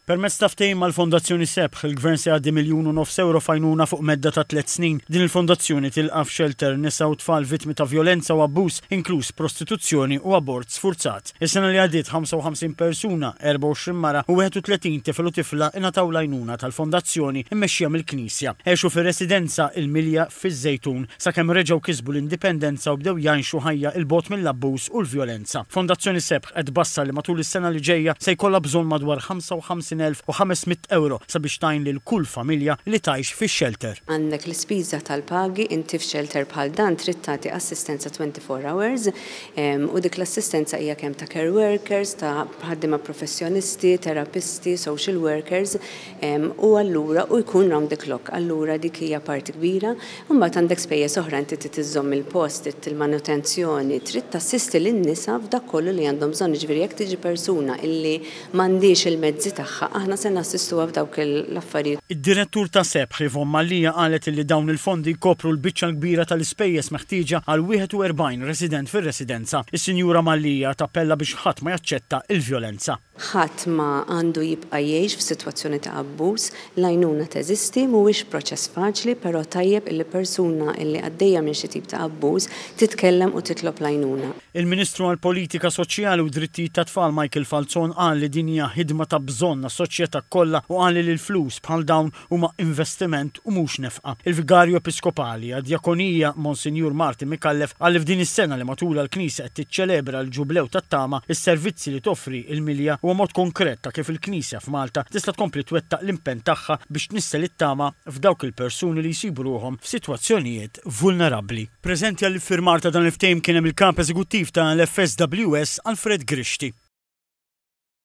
Permezz ta' ftehim mal-Fondazzjoni Sebħ, il-Gvern se jgħaddi miljun u nofs ewro f'għajnuna fuq medda ta' tliet snin. Din il-fondazzjoni tilqa' f'xelter nisa u tfal vittmi ta' vjolenza u abbuż, inkluż prostituzzjoni u abort sfurzat. Is-sena li għaddiet 55 persuna, 24 mara u 31 tifel u tifla ingħataw l-għajnuna tal-Fondazzjoni mmexxija mill-Knisja. Għexu fir-residenza Il-Milja, fiż-Żejtun, sakemm reġgħu kisbu l-indipendenza u bdew jgħixu ħajja 'il bogħod mill-abbuż u l-vjolenza. Fondazzjoni Sebħ qed tbassar li matul is-sena li ġejja se jkollha bżonn madwar 55,500 ewro sabiex tgħin lil kull familja li tgħix fix-xelter. Għandek l-ispiża tal-pagi, inti f'xelter bħal dan trid tagħti assistenza 24 hours u dik l-assistenza hija kemm ta' care workers, ta' ħaddiema professjonisti, terapisti, social workers, u allura u jkun round the clock, allura dik hija parti kbira, u mbagħad għandek spejjeż oħra, inti trid iżżomm il-post, trid il-manutenzjoni, trid tassisti lin-nisa f'dak kollu li għandhom bżonn, jiġifieri jekk tiġi persuna illi m'għandhiex il-mezzi tagħha, aħna se nassistuha f'dawk l-affarijiet. Id-Direttur ta' SEPH, Yvonne Mallia qalet illi dawn il-fondi jkopru l-biċċa l-kbira tal-ispejjeż meħtieġa għal 41 resident fir-residenza. Is-Sinjura Mallia tappella biex ħadd ma jaċċetta il-vjolenza. Ħadd ma għandu jibqa' jgħix f'sitwazzjoni ta' abbuż. L-għajnuna teżisti, mhuwiex proċess faċli, però tajjeb illi persuna illi għaddejja minn xi tip ta' abbuż titkellem u titlob l-għajnuna. Il-Ministru għall-Politika Soċjali u Drittijiet tat-Tfal Michael Falzon qal li din hija ħidma ta' bżonn għas-soċjetà kollha u qal li l-flus bħal dawn huma investiment u mhux nefqa. Il-Vigarju Episkopali għad-Djakonija, Monsinjur Martin Micallef, qal li f'din is-sena li matulha l-Knisja qed tiċċelebra l-Ġublew tat-Tama, is-servizzi li toffri l-Milja huwa mod konkret ta' kif il-Knisja f'Malta tista' tkompli twettaq l-impenn tagħha biex tnissel it-tama f'dawk il-persuni li jsibu ruħhom f'sitwazzjonijiet vulnerabbli. Preżenti għall-iffirmar ta' dan il-ftehim kien hemm il-Kap Eżekuttiv ta' l-FSWS, Alfred Grixti.